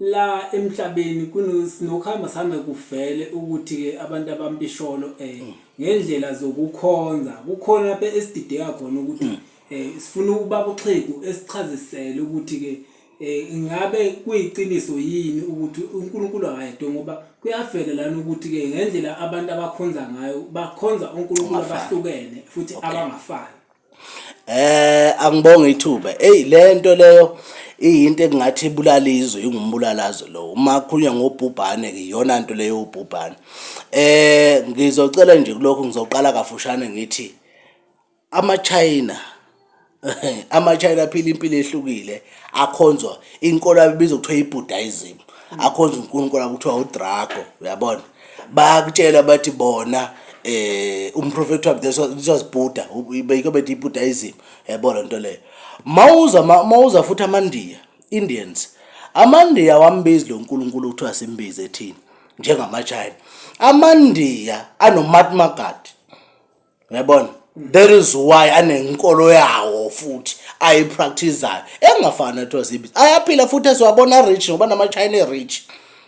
La emhlabeni kuno sinokuhamba sihambe kuvele ukuthi ke abantu abampisholo eh ngendlela zokukhonza kukhona lapha esidideka khona ukuthi mm. eh sifuna ukubaba uXhegu esichazisele ukuthi ke eh ingabe kuyiqiniso yini ukuthi uNkulunkulu akayedwa ngoba kuyavela lana ukuthi ke ngendlela abantu abakhonza ngayo bakhonza uNkulunkulu abahlukene futhi abangafani Eh angibonge ithuba. Eyi le nto leyo iyinto engathi ibulala izwe ingumbulalazo lo. Uma kukhulunywa ngobhubhane ke iyona nto leyo ubhubhane. Eh ngizocela nje kulokhu ngizoqala kafushane ngithi amaChina amaChina aphila impilo ehlukile akhonzwa inkolo yabo ibizwa kuthiwa i-Buddhism akhonzwa uNkulunkulu wabo kuthiwa uDrago uyabona. bayakutshela bathi bona eh umprofethi wabo this was this was Buddha beyike bethi iBuddhism yabo le nto leyo mawuza mawuza futhi amandiya Indians amandiya wambizi lo nkulunkulu kuthiwa simbize ethini njengamachina amandiya anomatmagadi Ngiyabona. That is why anenkolo yawo futhi ayipracticeayo. Engafani netozi ibhizi. Ayaphila futhi esiwabona rich ngoba nama China rich.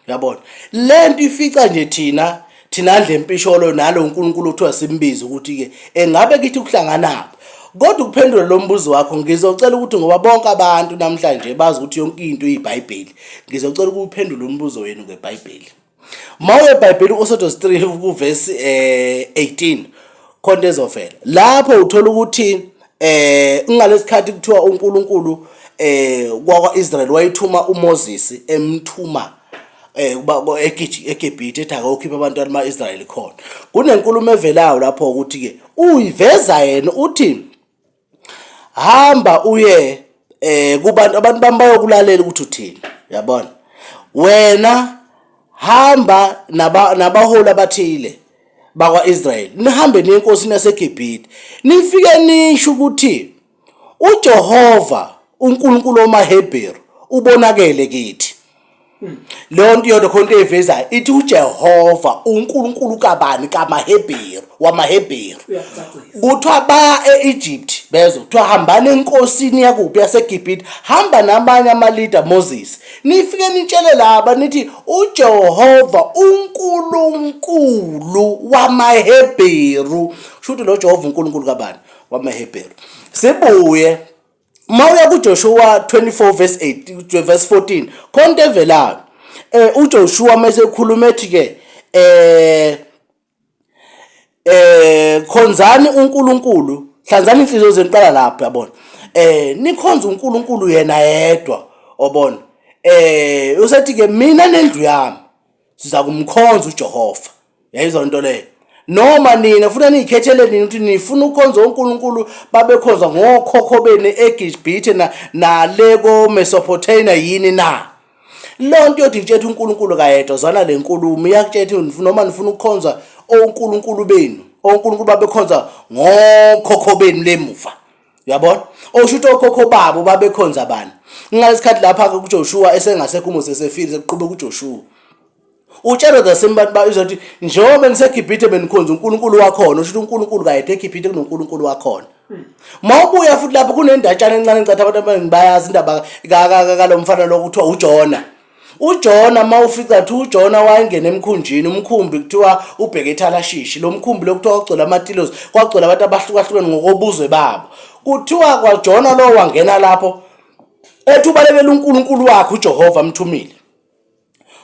Uyabona? Lento ifica nje thina thina ndle mpisholo nalo uNkulunkulu uthiwa simbize ukuthi ke engabe kithi kuhlanganaphi. Kodwa ukuphendula lo mbuzo wakho ngizocela ukuthi ngoba bonke abantu namhlanje bazi ukuthi yonke into iyiBhayibheli. Ngizocela ukuphendula umbuzo wenu ngeBhayibheli. Mawuye eBhayibheli uSodos 3 ukuverse eh 18 khona ezovela. Lapho uthola ukuthi eh ngalesikhathi kuthiwa uNkulunkulu eh kwakwaIsrael wayithuma uMoses emthuma eh kuba eGibhithe ethi akokhipha abantu bamaIsrael khona. Kunenkulumo evelayo lapho ukuthi ke uyiveza yena uthi hamba uye eh kubantu abantu bami bayokulalela ukuthi uthini yabona wena hamba naba nabaholi abathile bakwa-Israyeli nihambe niye enkosini yaseGibhithe nifike nisho ukuthi uJehova uNkulunkulu wamaHebheru ubonakele kithi leyo nto iyona khona into eyivezayo ithi ujehova unkulunkulu kabani kamahebheru wamahebheru kuthiwa baya e-egypt bezwa kuthiwa hambani enkosini yakuphi yasegibhite hamba namanye amalida moses nifike nitshele laba nithi ujehova unkulunkulu wamahebheru shuthi lo jehova unkulunkulu kabani wamahebheru sibuye uma uya kuJoshua 24 verse 8 verse 14 khona into evelayo eh uJoshua mesekhuluma ethi ke eh eh khonzani uNkulunkulu hlanzani inhliziyo zenu qala lapho yabona eh nikhonza uNkulunkulu yena yedwa obona eh usethi ke mina nendlu yami siza kumkhonza uJehova yayizwa lento leyo noma nina funa niyikhethele nini ukuthi nifuna ukhonza uNkulunkulu babekhonza ngokhokho beni eGibhithe na nale koMesopotamia yini na lonto yodi kutshela uNkulunkulu kayedwa zwana lenkulumo iyakutshela noma nifuna ukukhonza oNkulunkulu benu oNkulunkulu babekhonza ngokhokho benu lemuva uyabona osho ukuthi okhokho babo babekhonza bani ngalesikhathi lapha ke kuJoshua esengasekho uMose sefile sekuqhube kuJoshua utshelwe the same bantu bayizothi njengoba ngiseGibhithe benikhonza uNkulunkulu wakhona usho ukuthi uNkulunkulu kayede eGibhithe kunoNkulunkulu wakhona mawubuya futhi lapho kunendatshana encane ngicatha abantu abaningi bayazi indaba kalomfana lokuthiwa uJona UJona uma ufica kuthiwa uJona wayengena emkhunjini umkhumbi kuthiwa ubheke ethalashishi lo mkhumbi lokuthiwa kwagcwele amatilosi kwagcwele abantu abahlukahlukene ngokobuzwe babo kuthiwa kwajona lowo wangena lapho ethi ubalekela unkulunkulu wakhe ujehova amthumile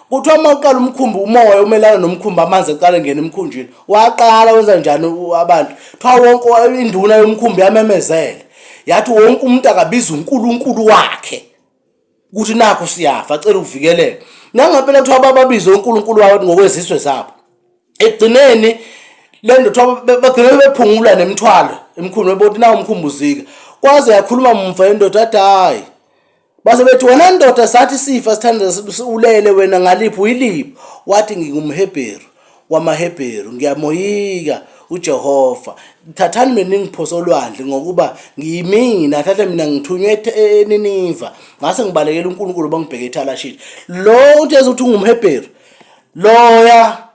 kuthiwa uma uqala umkhumbi umoya umelana nomkhumbi amanzi eqala engena emkhunjini waqala wenza njani abantu kuthiwa wonke induna yomkhumbi yamemezele yathi wonke umuntu akabiza unkulunkulu wakhe ukuthi nakho siyafa cela ukuvikeleka nangempela kuthiwa bababize uNkulunkulu wawo ngokwezizwe zabo ekugcineni le nto kuthiwa bagcine bephungula nemithwalo emkhulu bebona nawo umkhumbuzika kwaze yakhuluma mumva indoda athi hayi base bethi wena ndoda sathi sifa sithandana ulele wena ngaliphi uyiliphi wathi ngingumhebheru wamaHebheru, ngiyamoyika uJehova. Thathani mina ningiphose olwandle ngokuba ngiyimina, thatha mina ngithunywe e-, eNiniva. Ngase ngibalekela uNkulunkulu bangibheke eThalashishi. Lo uthi ezothi ungumHebheru. Loya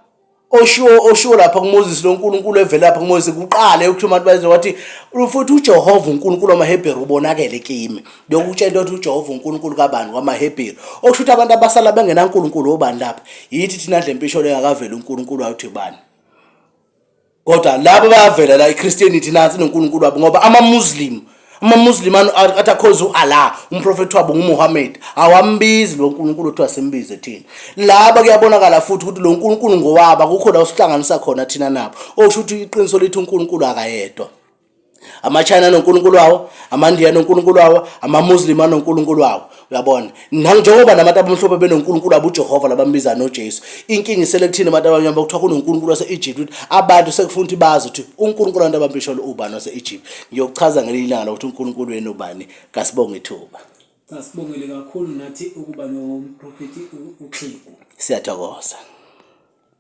oshiwo oshiwo lapha kuMoses lo Nkulunkulu evela lapha kuMoses kuqala yokuthi umuntu bayize wathi futhi uJehova uNkulunkulu wamaHebheru ubonakele kimi Ngiyokutshela ukuthi uJehova uNkulunkulu kabani kwamaHebheru. Okusho ukuthi abantu abasala bengenaNkulunkulu obani lapha? Yithi thina nje mpisholo engakaveli uNkulunkulu awuthi bani? Kodwa labo bayavela la iChristianity nansi noNkulunkulu wabo ngoba amaMuslim amaMuslim athi akhonza uAllah umprofethi wabo nguMuhammad awambizi lo Nkulunkulu othiwa simbize thina laba kuyabonakala futhi ukuthi lo Nkulunkulu ngowaba kukho la usihlanganisa khona thina nabo okusho ukuthi iqiniso lithi uNkulunkulu akayedwa amachina anonkulunkulu wawo amandiya anonkulunkulu wawo amamuslim anonkulunkulu wawo uyabona nanjengoba nabantu abamhlophe benonkulunkulu wabo ujehova labambiza nojesu inkinga isele kuthina abantu abamnyama kuthiwa kunonkulunkulu wase-egypt ukuthi abantu sekufuna ukuthi bazi ukuthi unkulunkulu abantu abambisholo ubani wase-egypt ngiyokuchaza ngelinye ilanga lokuthi unkulunkulu wenu ubani kasibonge ithuba sasibongele kakhulu nathi ukuba nomprofethi uxhegu siyathokoza